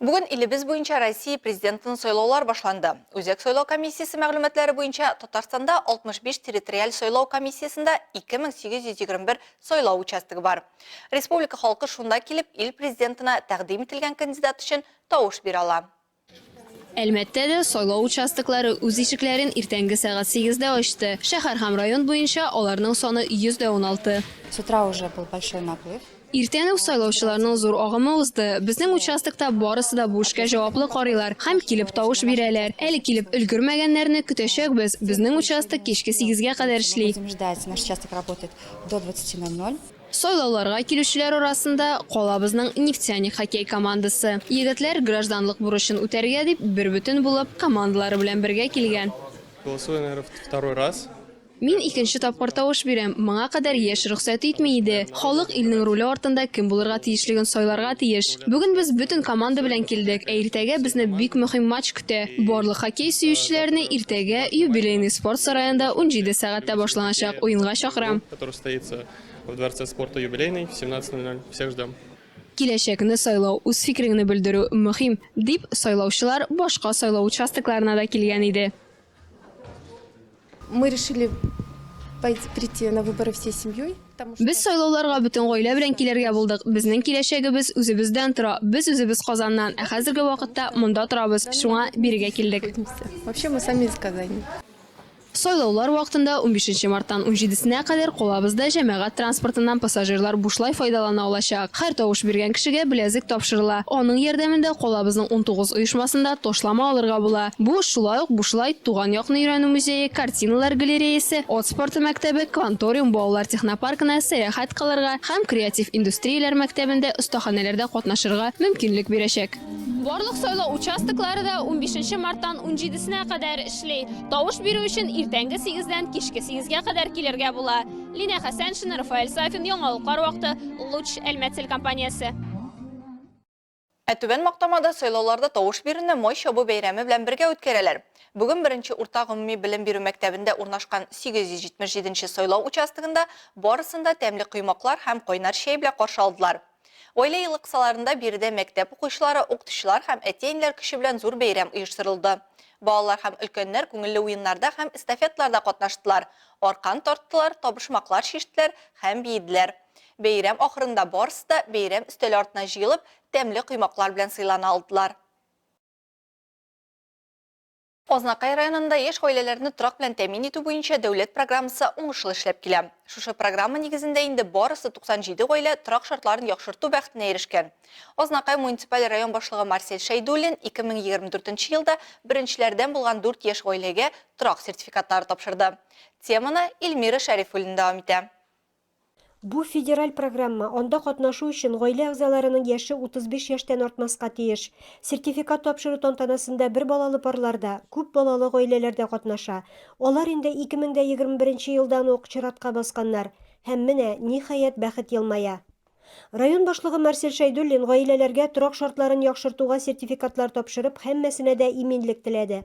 Бүген илебез буенча Россия Президентын сайлаулар башланды. Үзәк сайлау комиссиясе мәгълүматлары буенча, Татарстанда 65 территориаль сайлау комиссиясендә 2821 сайлау участогы бар. Республика халкы шунда килеп, ил Президентына тәкъдим ителгән кандидат өчен тавыш бирә ала. Әлмәттә дә сайлау участоклары үз ишекләрен иртәнге сәгать сигездә ачты. Шәһәр һәм район буенча аларның саны 116. С утра уже был большой наплыв. Иртән үк сайлаучыларның зур агымы узды. Безнең участокта барысы да бу эшкә җаваплы карыйлар һәм килеп тавыш бирәләр. Әле килеп өлгермәгәннәрне көтәчәкбез. Безнең участок кичке сигезгә кадәр эшли. Сайлауларга килүчеләр арасында, калабызның Нефтяник хоккей командасы. Егетләр гражданлык бурычын үтәргә дип, бербөтен булып, командалары белән бергә килгән. Мин икенче тапкыр тавыш бирәм. Моңа кадәр яшь рөхсәт итми иде. Халык илнең руле артында кем булырга тиешлеген сайларга тиеш. Бүген без бөтен команда белән килдек, ә иртәгә безне бик мөһим матч көтә. Барлык хоккей сөючеләрне иртәгә Юбилейный спорт сараенда унҗиде сәгатьтә башланачак уенга чакырам. Киләчәкне сайлау, үз фикереңне белдерү мөһим, дип, сайлаучылар башка сайлау участокларына да килгән иде. Мы решили прийти на выборы всей семьей. Без сайлауларга бөтен гаилә белән килергә булдык. Безнең киләчәгебез үзебездән тора. Без үзебез Казаннан, ә хәзерге вакытта монда торабыз. Шуңа бирегә килдек. Вообще мы сами из Казани. Сайлаулар вакытында 15 мартан 17 сенә кадәр калабызда җәмәгать транспортыннан пассажирлар бушлай файдалана алачак. Һәр тавыш биргән кешегә беләзек тапшырыла. Аның ярдәмендә калабызның унтугыз оешмасында ташлама алырга була. Бу, шулай ук Бушлай, Туган якны өйрәнү музее, Картиналар галереясе, Ат спорты мәктәбе, Кванториум балалар технопаркына сәяхәт кылырга һәм Креатив индустрияләр мәктәбендә остаханәләрдә катнашырга мөмкинлек бирәчәк. Барлык сайлау участоклары да унбишенче марттан унҗидесенә кадәр эшли. Тавыш бирү өчен иртәнге сигездән кичке сигезгә кадәр килергә була. Линия Хәсәншина, Рафаэль Сафин, Яңалыклар вакыты, Луч, Әлмәт телекомпаниясе. Ә Түбән Мактамада сайлауларда тавыш бирүне май чабу бәйрәме белән бергә үткәрәләр. Бүген беренче урта гомуми белем бирү мәктәбендә урнашкан 877 нче сайлау участогында барысын да тәмле коймаклар һәм кайнар чәй белән каршы алдылар. Гаилә елы кысаларында биредә мәктәп укучылары, укытучылар һәм әти-әниләр көче белән зур бәйрәм оештырылды. Балалар һәм өлкәннәр күңелле уеннарда һәм эстафеталарда катнаштылар, аркан тарттылар, табышмаклар чиштеләр һәм биеделәр. Бәйрәм ахырында барысы да бәйрәм өстәле артына җыелып, тәмле коймаклар белән сыйлана алдылар. Азнакай районында яшь гаиләләрне торак белән тәэмин итү буенча дәүләт программасы уңышлы эшләп килә. Шушы программа нигезендә инде барысы 97 гаилә торак шартларын яхшырту бәхетенә ирешкән. Азнакай муниципаль район башлыгы Марсель Шәйдуллин 2024 елда беренчеләрдән булган дүрт яшь гаиләгә торак сертификатлары тапшырды. Теманы Ильмира Шәрифуллина дәвам итә. Бу, федераль программа, анда катнашу өчен гаилә әгъзаларының яше 35 яшьтән артмаска тиеш. Сертификат тапшыру тантанасында бер балалы парлар да, күп балалы гаиләләр дә катнаша. Алар инде 2021 нче елдан ук чиратка басканнар. Һәм менә, ниһаять, бәхет елмая. Район башлыгы Марсель Шәйдуллин гаиләләргә торак шартларын яхшыртуга сертификатлар тапшырып, һәммәсенә дә иминлек теләде.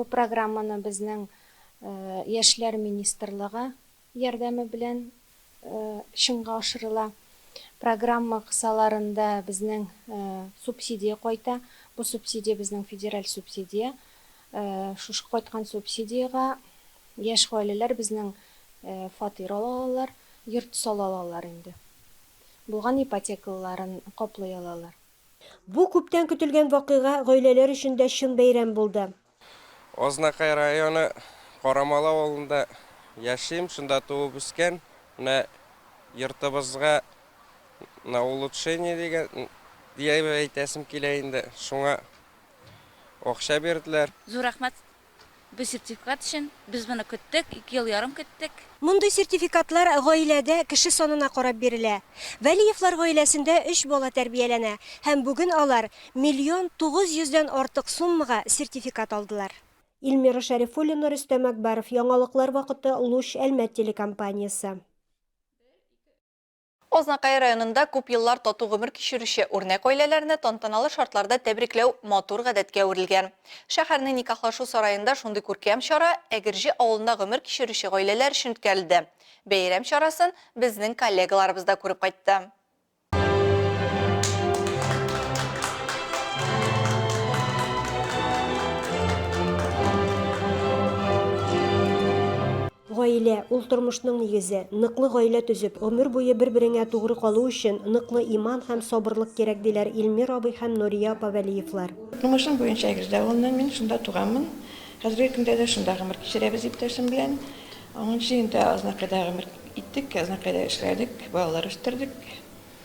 Бу программаны безнең Яшьләр министрлыгы ярдәме белән чынга ашырыла. Программа кысаларында безнең субсидия кайта. Бу субсидия безнең федераль субсидия. Шушы кайткан субсидиягә яшь гаиләләр безнең фатир ала алалар, йорт сала алалар инде. Булган ипотекалыларын каплый алалар. Бу күптән көтелгән вакыйга гаиләләр өчен дә чын бәйрәм булды. Азнакай районы Карамалы авылында яшим, шунда туып үскән. Менә йортыбызга на улучшение дигән, диеп әйтәсем килә инде, шуңа акча бирделәр. Зур рәхмәт Бу сертификат өчен без моны көттек, ике ел ярым көттек. Мондый сертификатлар гаиләдә кеше санына карап бирелә. Вәлиевлар гаиләсендә өч бала тәрбияләнә һәм бүген алар миллион тугыз йөздән артык суммага сертификат алдылар. Ильмира Шәрифуллина, Рөстәм Әкбаров, яңалыклар вакыты, Луч, Әлмәт телекомпаниясе. Азнакай районында күп еллар тату гомер кичерүче үрнәк гаиләләрне тантаналы шартларда тәбрикләү матур гадәткә әверелгән. Шәһәрнең Никахлашу сараенда шундый күркәм чара Әгерҗе авылында гомер кичерүче гаиләләр өчен үткәрелде. Бәйрәм чарасын безнең коллегаларыбыз да күреп кайтты. Гаилә, ул тормышның нигезе. Ныклы гаилә төзеп, гомер буе бер-береңә тугры калу өчен, ныклы иман һәм сабырлык кирәк, диләр Илмир абый һәм Нурия апа Вәлиевлар. Тумышым буенча Әгерҗе авылыннан мин, шунда туганмын. Хәзерге көндә дә шунда гомер кичерәбез иптәшем белән. Унынчы елда Азнакайда гомер иттек, Азнакайда эшләдек, балалар үстердек.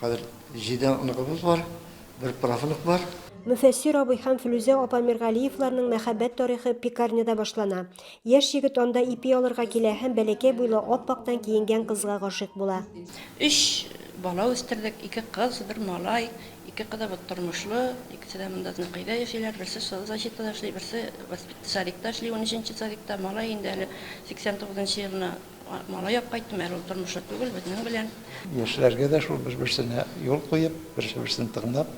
Хәзер җиде оныгыбыз бар, бер правнук бар. Мөфәссир абый һәм Флүзә апа Миргалиевларның мәхәббәт тарихы пекарняда башлана. Яшь егет анда ипи алырга килә һәм бәләкәй буйлы ап-актан киенгән кызга гашыйк була. Өч бала үстердек, ике кыз, бер малай. Ике кызыбыз тормышлы, икесе дә монда Зныкыйда яшиләр. Берсе соцзащитада эшли, берсе воспитсадикта эшли, унөченче садикта. Малай инде әле сиксән тугызынчы елына Малай ап кайттым, әле ул тормышлы түгел, безнең белән. Яшьләргә дә шул бер-берсенә юл куеп, берсе-берсен тыңлап,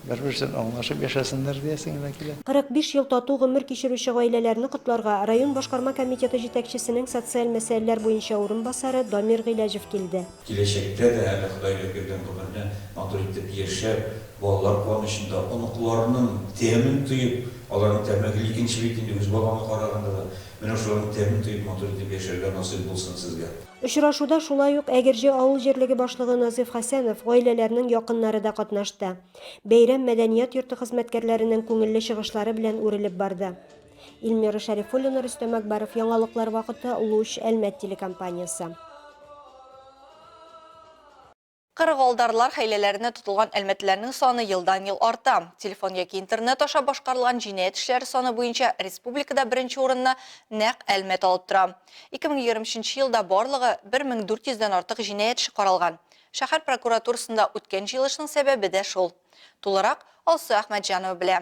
бер-берсен аңлашып яшәсеннәр диясең генә килә. 45 ел тату гомер кичерүче гаиләләрне котларга район башкарма комитеты җитәкчесенең социаль мәсьәләләр буенча урынбасары Дамир Гыйләҗев килде. Киләчәктә дә әле Ходай бер биргән гомерне матур итеп яшәп, балалар куанычында, оныкларының тәмен тоеп, аларның тәме гел икенче бит инде, үз балаңа караганда да. Менә шуларның тәмен тоеп матур итеп яшәргә насыйп булсын сезгә. Очрашуда шулай ук Әгерҗе авыл җирлеге башлыгы Назыйф Хәсәнов, гаиләләрнең якыннары да катнашты. Бәйрәм мәдәният йорты хезмәткәрләренең күңелле чыгышлары белән үрелеп барды. Ильмира Шәрифуллина, Рөстәм Әкбаров, Яңалыклар вакыты, Луч, Әлмәт телекомпаниясе. Кырыгалдарлар хәйләләренә тотылган әлмәтлеләрнең саны елдан-ел арта. Телефон яки интернет аша башкарылган җинаять эшләре саны буенча республикада беренче урынны нәкъ Әлмәт алып тора. 2023 елда барлыгы 1400 дән артык җинаять эше каралган. Шәһәр прокуратурасында үткән җыелышның сәбәбе дә шул. Тулырак Алсу Әхмәтҗанова белә.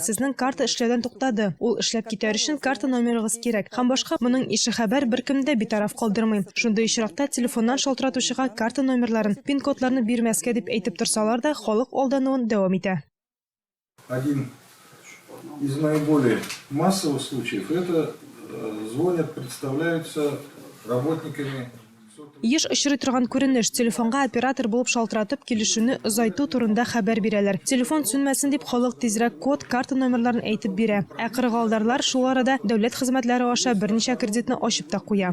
Сезнең карта эшләүдән туктады. Ул эшләп китәр өчен карта номерыгыз кирәк һәм башка моның ише хәбәр беркемне дә битараф калдырмый. Шундый очракта телефоннан шалтыратучыга карта номерларын, пин-кодларны бирмәскә дип әйтеп торсалар да, халык алдануын дәвам итә. Один из наиболее массовых случаев это звонят, представляются работниками. Еш очрый торган күренеш, телефонга оператор булып шалтыратып, килешүне озайту турында хәбәр бирәләр. Телефон сүнмәсен дип, халык тизрәк код, карта номерларын әйтеп бирә. Ә кырыгалдарлар шул арада дәүләт хезмәтләре аша берничә кредитны ачып та куя.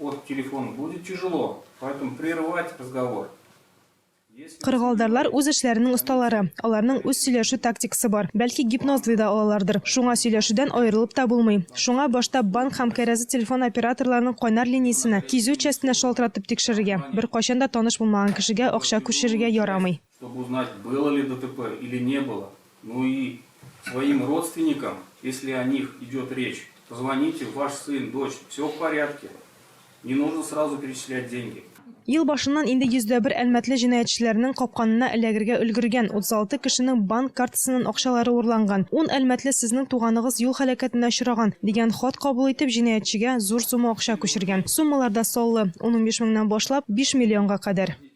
От телефона будет тяжело, поэтому прерывать разговор. Кыргылдарлар үз эшләренең осталары. Аларның үз сөйләшү тактикасы бар. Бәлки гипнозлый да алалардыр. Шуңа сөйләшүдән аерылып та булмый. Шуңа башта банк һәм кәрәзы телефон операторларының кайнар линиясенә, кизү частенә шалтыратып тикшерергә. Беркайчан да таныш булмаган кешегә акча күчерергә ярамый. Чтоб узнать было ли ДТП или не было, ну и своим родственникам, если о них идет речь, позвоните, ваш сын, дочь, все в порядке, не нужно сразу перечислять деньги. Ел башыннан инде йөздәбер әлмәтле җинаятьчеләрнең капканына эләгергә өлгергән, 36 кешенең банк картасыннан акчалары урланган, ун әлмәтле сезнең туганыгыз юл һәлакәтенә очраган, дигән хат кабул итеп җинаятьчегә зур сумма акча күчергән. Суммалар да саллы, унунбиш меңнән башлап биш миллионга кадәр.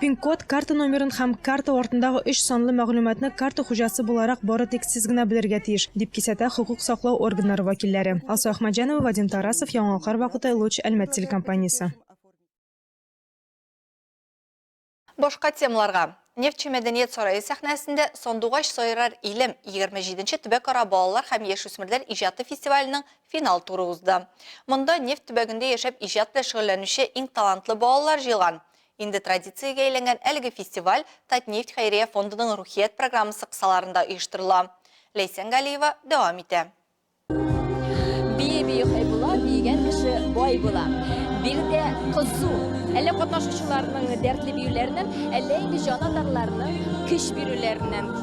Пин-код, карта номерын һәм карта артындагы өч санлы мәгълүматны карта хуҗасы буларак бары тик сез генә белергә тиеш, дип кисәтә хокук саклау органнары вәкилләре. Алсу Әхмәтҗанова, Вадим Тарасов, Яңалыклар вакыты, Луч, Әлмәт телекомпаниясе. Башка темаларга. Нефтьче мәдәният сарае сәхнәсендә Сандугач сайрар илем, егерме җиденче төбәкара балалар һәм яшүсмерләр иҗаты фестиваленең Финал туры узды. Монда нефть төбәгендә яшәп иҗат белән шөгыльләнүче иң талантлы балалар җыелган. Инде традициягә әйләнгән әлеге фестиваль Татнефть хәйрия фондының Рухият программасы кысаларында оештырыла. Ләйсән Галиева дәвам итә. Бии бии хай була, биегән кеше бай була. Биредә кызу. Әллә катнашучыларның дәртле биюләреннән, әллә инде җан атарларның көч бирүләреннән.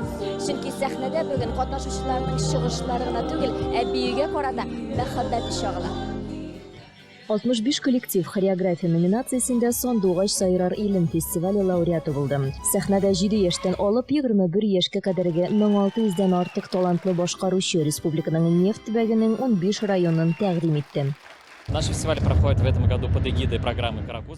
Чөнки сәхнәдә бүген катнашучыларның чыгышлары гына түгел, ә биюгә карата мәхәббәте чагыла. 65 коллектив хореография номинациясендә Сандугач сайрар илем фестивале лауреаты булды. Сәхнәдә 7 яшьтән алып 21 яшькә кадәрге 1600 дән артык талантлы башкаручы республиканың нефть төбәгенең 15 районын тәкъдим итте.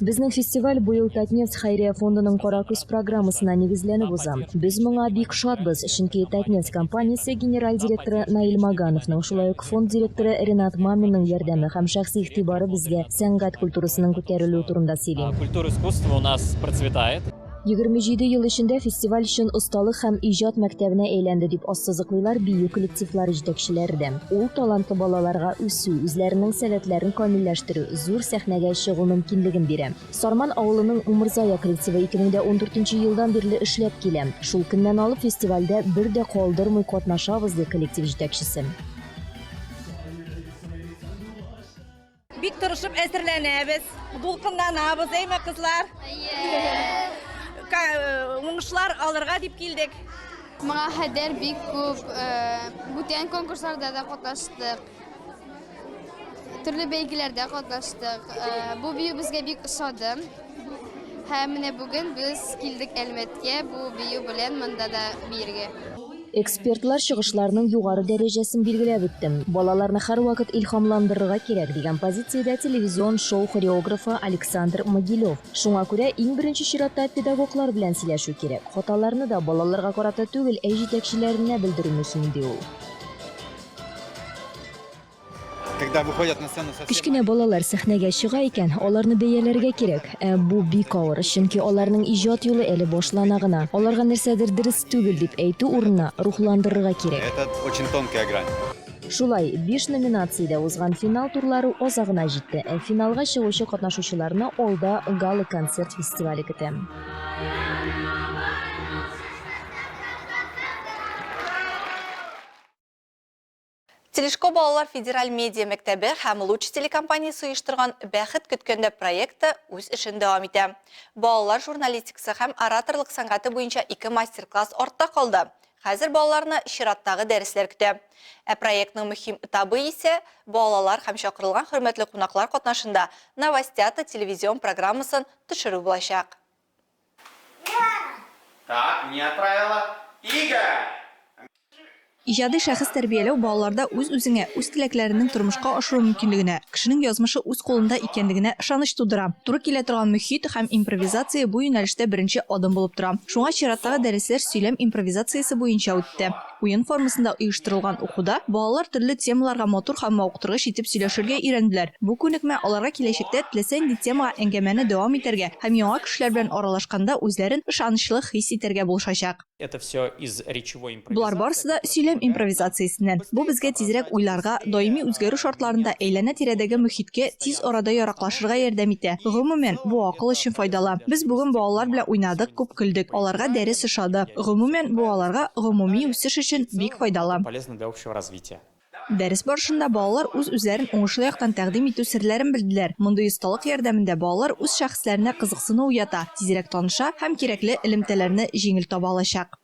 Безнең фестиваль быел Татнефть хәйрия фондының Каракөз программасына нигезләнеп уза. Без моңа бик шатбыз, чөнки Татнефть компаниясе генераль директоры Наил Магановның, шулай ук фонд директоры Ренат Маминның ярдәме һәм шәхси игътибары безгә сәнгать культурасының күтәрелүе турында сөйли. 27 ел эчендә фестиваль чын осталык һәм иҗат мәктәбенә әйләнде, дип ассызыклыйлар бию коллективлары җитәкчеләре дә. Ул талантлы балаларга үсү, үзләренең сәләтләрен камилләштерү, зур сәхнәгә чыгу мөмкинлеген бирә. Сарман авылының Умырзая коллективы 2014 елдан бирле эшләп килә. Шул көннән алып фестивальдә бер дә калдырмый катнашабыз, ди коллектив җитәкчесе. Бик тырышып әзерләнәбез, дулкынланабыз, әйме кызлар? Уңышлар алырга дип килдек. Моңа хәдер бик күп бүтән конкурсларда да катнаштык. Төрле бәйгеләрдә катнаштык. Бу бию безгә бик ошады. Һәм менә бүген без килдек Әлмәткә бу бию белән монда да биергә. Экспертлар чыгышларының югары дәрәҗәсен билгеләп үттем. Балаларны һәрвакыт илһамландырырга кирәк, дигән позициядә телевизион шоу хореографы Александр Могилев. Шуңа күрә иң беренче чиратта педагоглар белән сөйләшү кирәк. Хаталарны да балаларга карата түгел, ә җитәкчеләренә белдерү мөһим, ди ул. Кечкенә балалар сәхнәгә чыга икән, аларны бәяләргә кирәк. Ә бу бик авыр, чөнки аларның иҗат юлы әле башлана гына. Аларга нәрсәдер дөрес түгел дип әйтү урынына, рухландырырга кирәк. Шулай, биш номинациядә узган финал турлары азагына җитте. Ә финалга чыгучы катнашучыларны алда гала-концерт фестивале көтә. Телешко балалар федераль медиа мәктәбе һәм Луч телекомпаниясе оештырган Бәхет көткәндә проекты үз эшен дәвам итә. Балалар журналистикасы һәм ораторлык сәнгате буенча ике мастер-класс артта калды. Хәзер балаларны чираттагы дәресләр көтә. Ә проектның мөһим этабы исә, балалар һәм чакырылган хөрмәтле кунаклар катнашында Новостята телевизион программасын төшерү булачак. Так, не отправила. Игорь! Иҗади шәхес тәрбияләү балаларда үз-үзеңә, үз теләкләреңнең тормышка ашыру мөмкинлегенә, кешенең язмышы үз кулында икәнлегенә ышаныч тудыра. Туры килә торган мөхит һәм импровизация бу юнәлештә беренче адым булып тора. Шуңа чираттагы дәресләр сөйләм импровизациясе буенча үтте. Уен формасында оештырылган укуда балалар төрле темаларга матур һәм мавыктыргыч итеп сөйләшергә өйрәнделәр. Бу күнекмә аларга киләчәктә теләсә нинди темага әңгәмәне дәвам итәргә һәм яңа кешеләр белән аралашканда үзләрен ышанычлы хис итәргә булышачак. Болар барысы да сөйләм импровизациясеннән. Бу безгә тизрәк уйларга, даими үзгәрү шартларында әйләнә-тирәдәге мөхиткә тиз арада яраклашырга ярдәм итә. Гомумән, бу акыл өчен файдалы. Без бүген балалар белән уйнадык, күп көлдек, аларга дәрес ошады. Гомумән, бу аларга гомуми үсеш өчен бик файдалы. Дәрес барышында балалар үз-үзләрен уңышлы яктан тәкъдим итү серләрен белделәр. Мондый осталык ярдәмендә балалар үз шәхесләренә кызыксыну уята, тизрәк таныша һәм кирәкле элемтәләрне җиңел таба алачак.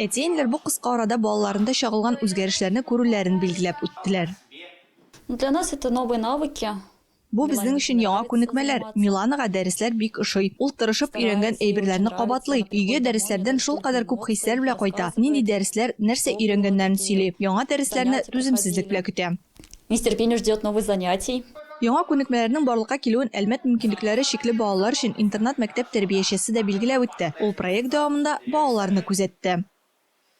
Әти-әниләр бу кыска арада балаларында чагылган үзгәрешләрне күрүләрен билгеләп үттеләр. Для нас это новые навыки. Бу безнең өчен яңа күнекмәләр. Миланага дәресләр бик ошый. Ул тырышып өйрәнгән әйберләрне кабатлый, өйгә дәресләрдән шулкадәр күп хисләр белә кайта, нинди дәресләр, нәрсә өйрәнгәннәрен сөйли, яңа дәресләрне түземсезлек белә көтә. Нетерпенье ждет новых занятий. Яңа күнекмәләрнең барлыкка килүен Әлмәт мөмкинлекләре чикле балалар өчен интернат-мәктәп тәрбиячесе дә билгеләп үтте, ул проект дәвамында балаларны күзәтте.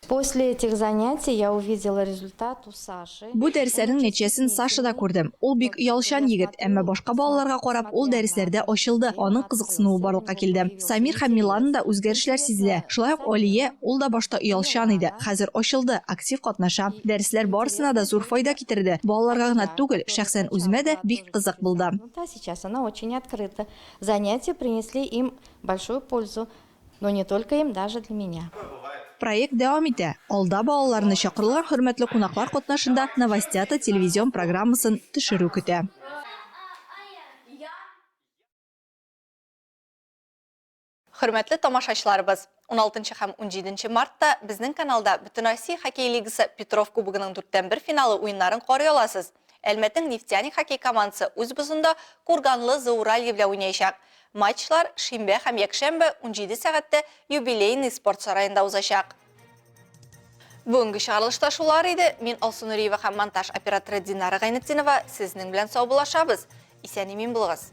После этих занятий я увидела результат у Саши. Бу дәресләрнең нәтиҗәсен Сашада күрдем. Ул бик оялчан егет, әмма башка балаларга карап, ул дәресләрдә ачылды, аның кызыксынуы барлыкка килде. Самир һәм Миланада үзгәрешләр сизелә. Шулай ук Алия, ул да башта оялчан иде, хәзер ачылды, актив катнаша. Дәресләр барысына да зур файда китерде. Балаларга гына түгел, шәхсән үземә дә бик кызык булды. Сейчас она очень открыта. Занятия принесли им большую пользу, но не только им, даже для меня. Проект дәвам итә. Алда балаларны чакырылган хөрмәтле кунаклар катнашында Новостята телевизион программасын төшерү көтә. Хөрмәтле тамашачыларыбыз, уналтынчы һәм унҗиденче мартта безнең каналда Бөтенроссия хоккей лигасы Петров кубогының дүрттән бер финалы уеннарын карый аласыз. Әлмәтнең Нефтяник хоккей командасы үз бозында Курганлы Зауралье белән уйнаячак. Матчлар шимбә һәм якшәмбе унҗиде сәгатьтә юбилейный спорт сараенда узачак. Бүгенге чыгарылыш та шулар иде. Мин Алсу Нуриева һәм монтаж операторы Динара Гайнетдинова сезнең белән саубуллашабыз. Исән-имин булыгыз.